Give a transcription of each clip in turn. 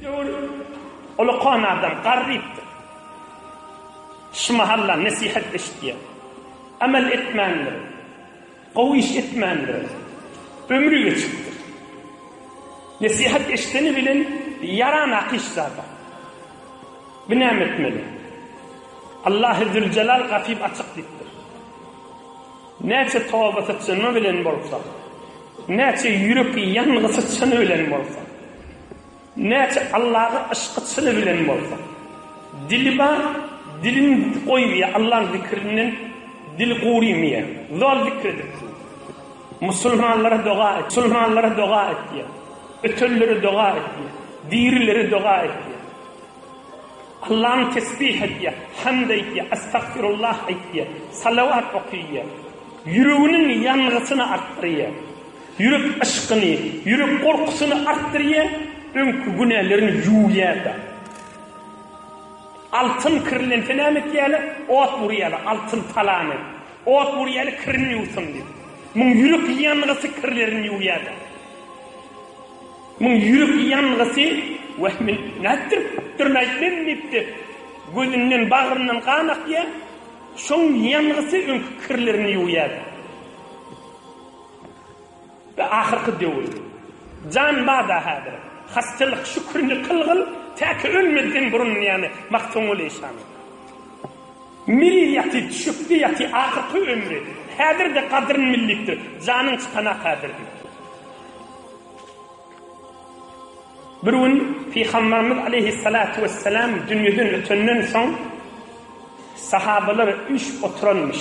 Döwür ulakan adam, garrypdyr. Şu mahalla nesihat eşitýär. Amel etmändir. Gowy iş etmändir. Ömri geçipdir. Nesihat eşideni bilen ýaranak iş zada. Bu näme etmeli? Allahy Züljelal gapyp açyk diýipdir. Näçe toba syçyny bilen bolsa, näçe ýürek ýangysy çyny bilen bolsa, Näçe Allaga yşky çyny bilen bolsa. Dili bar, dilini ýutup goýubýär Allaň zikrinden dili gurymýar. Zol zikr edip dur. Musulmanlara doga et, musulmanlara doga et diýýär. Ötenlere doga et diýýär. Dirilere doga et diýýär. Allany tesbih et diýýär. Hamd aýt diýýär. Astagfirullah aýt diýýär. Salawat oky diýýär. Ýüreginiň ýangysyny artdyrýar. Ýürek yşkyny, ýürek gorkusyny artdyrýar, öňki günälerini ýuwýar-da. Altyn kirlense näme etýärler? Ot urýarlar, altyn talany. Ot urýarlar, kirini ýuwsyn diýip. Muň ýürek ýangysy kirlerini ýuwýar-da. Muň ýürek ýangysy, Wah, men nätdiripdirin-aý, men diýipdi. Gözünden, bagryndan gan akýar. Şoň ýangysy öňki kirlerini ýuwýar-da. Bi ahyrky döwür. Jan bada häzir. Hassalyk şükrini kylgyn, täki ölmezden burun diýýäni Magtymguly şanyň. Miri ýaty, düşekde ýaty ahyrky ömri. Häzir-de gadryn bil diýipdir. Janyň çykanak häzir diýipdir. Bir gün Pygamberimiz aleýhissalatu wessalam dünýeden ötenden soň sahabalar üýşüp oturanmyş.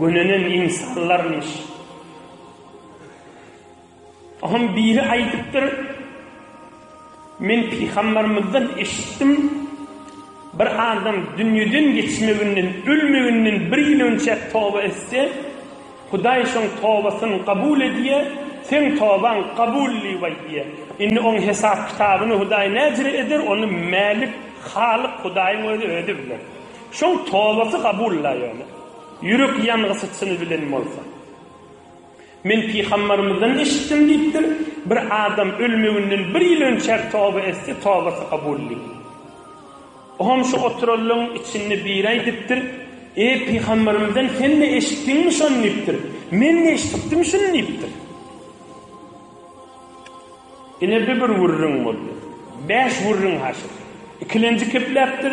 Gönenen ynsanlarmyş. Oňam biri aýdypdyr, Men pygambarymyzdan eşitdim, Bir adam dünýeden geçmeginden, ölmeginden bir ýyl önçäk toba etse, Hudaý şoň tobasyny kabul edýär, Seň tobaň kabul diýip aýdýar. Indi oň hesap-kitabyny Hudaý näjre eder, ony Mälik, Halyk Hudaýyň özi özi biler. Şoň tobasy kabul-la ýöne. Ýürek ýangyjy çyny bilen bolsa. Men pygambarymyzdan eşitdim diýipdir, Bir adam ölmeginden bir ýyl önçäk toba etse, tobasy kabully. Oňam şu oturanlaryň içinde biri aýdypdyr, Eý, pygambarymyzdan sen-de eşitdiňmi şony diýipdir, Men-de eşidipdim şuny diýipdir. Ine bi bir gürrüň boldy. Bäş gürrüň haşyr. Ikilenji kepläpdir.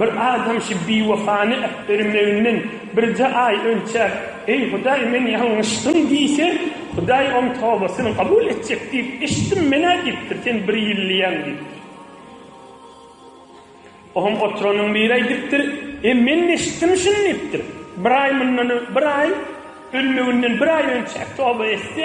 Bir adam şu biwefany äpdirmeginden birje aý önçäp, Eý, Hudaý, men ýalňyşdym diýse, Hudaý oň tobasyny kabul etjek diýip eşitdim men-ä diýipdir, sen bir ýyllyýaň diýipdir. Oňa oturanyň biri aýdypdyr, E, men-de eşitdim şuny diýipdir. Bir aý mundan, bir aý, ölmeginden bir aý önçäp toba etse,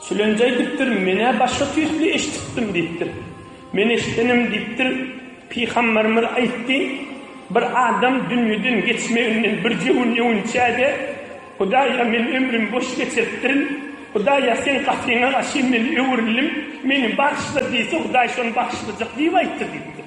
Sülenji aýdypdyr, Men-ä başga tüýsli eşidipdim diýipdir. Men eşidenim diýipdir, Pygamberimiz aýtdy, Bir adam dünýeden geçmeginden birje gün öwünçä-de, Hudaýa, men ömrümi boş geçiripdirin. Hudaýa, Seň gatyňa garşy men öwrüldim, meni bagyşla diýse, Hudaý şony bagyşlajak diýip aýtdy diýipdir.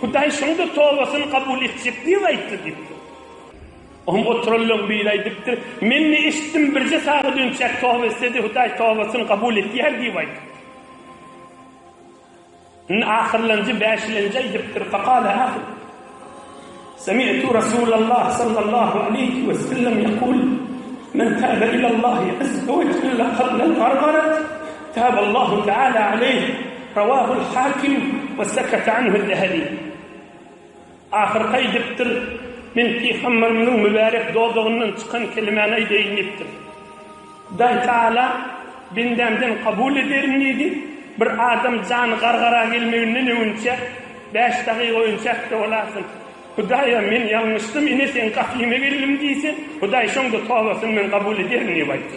Hudaý şoňda tobasyny kabul etjek diýip aýtdy diýipdir. Oňa oturanlaryň biri aýdypdyr, Men-de eşitdim, birje saga dönjek toba etse-de, Hudaý tobasyny kabul edýär diýip aýdypdyr. Indi ahyrlanjy, bäşilenji aýdypdyr, Fakala ahyr, Semi'tu Rasulallah sallallahu aleýhi we sellem ýekul, Men täbe ilallahi azza we jelle qabla al-gargarat. Taballahu taala aleyh, Rawahul Hakim we sekete anhul Zehebi. Ahyrky aýdypdyr, Men Pygamberimiziň mübärek dodagyndan çykan kelimäni aýdaýyn diýipdir. Hudaý taala bendämden kabul ederin diýdi, Bir adam jany gargara gelmeginden öwünçä bäş dagyk öýünçä äpde bolarsyň. Hudaýa men ýalňyşdym, ine seň gapyňa geldim diýse, Hudaý şonda tobasyny men kabul ederin diýip aýtdy.